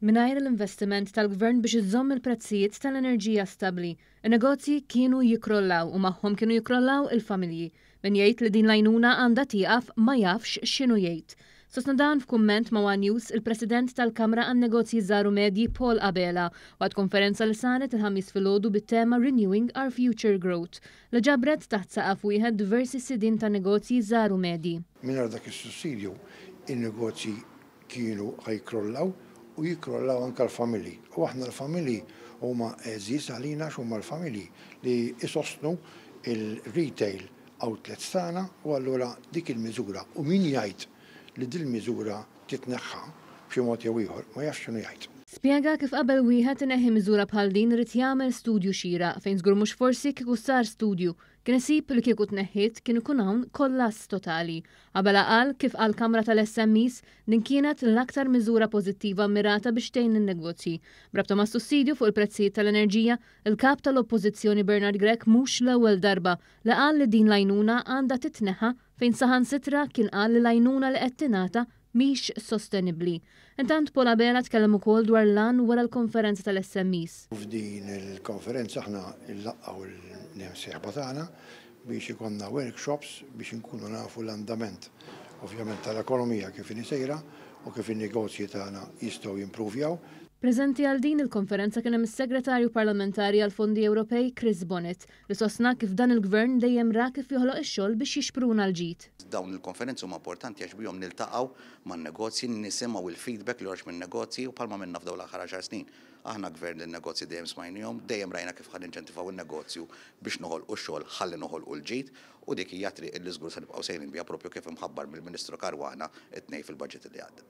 Mingħajr l-investiment tal-Gvern biex iżomm il-prezzijiet tal-enerġija stabbli, in-negozji kienu jikkrollaw u magħhom kienu jikkrollaw il-familji. Min jgħid li din l-għajnuna għandha tieqaf ma jafx x'inhu jgħid. Sostna dan f'kumment ma' one News il-President tal-Kamra għan-Negozji Żgħar u Medji Paul Abela waqt konferenza li saret il-Ħamis filgħodu bit-tema Renewing Our Future Growth li ġabret taħt saqaf wieħed diversi sidien ta' negozji żgħar u medji. Mingħajr dak is-sussidju, in-negozji kienu ħa jikkrollaw u jikkrollaw anke l-familji u aħna l-familji huma għeżież għalina għax huma l-familji li jsostnu l-retail outlets tagħna u allura dik il-miżura u min jgħid li dil-miżura titneħħa b'xi mod jew ieħor ma jafx x'inhu jgħid. Spjega kif qabel wieħed ineħħi miżura bħal din irid jagħmel studju xieraq fejn żgur mhux forsi kieku sar studju Kien isib li kieku tneħħiet kien ikun hawn kollass totali. Abela qal kif għall-Kamra tal-SMEs din kienet l-aktar miżura pożittiva mmirata biex tgħin lin-negozji. B'rabta mas-sussidju fuq il-prezzijiet tal-enerġija, il-Kap tal-Oppożizzjoni Bernard Grech mhux l-ewwel darba li qal li din l-għajnuna għandha titneħħa fejn saħansitra kien qal li l-għajnuna li qed tingħata mhix sostenibbli. Intant Paul Abela tkellem ukoll dwar l-għan wara l-konferenza tal-SMEs. F'din il-konferenza aħna nlaqgħu l-imsieħba tagħna biex ikollna workshops biex inkunu nafu l-andament ovvjament tal-ekonomija kif inhi sejra u kif in-negozji tagħna jistgħu jimpruvjaw. Preżenti għal din il-konferenza kien hemm is-Segretarju Parlamentari għall-Fondi Ewropej Chris Bonett, li sostna kif dan il-Gvern dejjem ra kif joħloq ix-xogħol biex jixpruna l-ġid. Dawn il-konferenzi huma importanti għax bihom niltaqgħu man-negozji, nisimgħu l-feedback li joħroġ min-negozji u bħalma għamilna f'dawn l-aħħar għaxar snin. Aħna Gvern li n-negozji dejjem smajniehom, dejjem rajna kif ħa ninċentivaw in-negozju biex noħolqu x-xogħol ħalli noħolqu l-ġid u dik hija t-triq li żgur se nibqgħu sejrin biha proprju kif imħabbar mill-Ministru Caruana t-Tnejn fil-Baġit li għadda.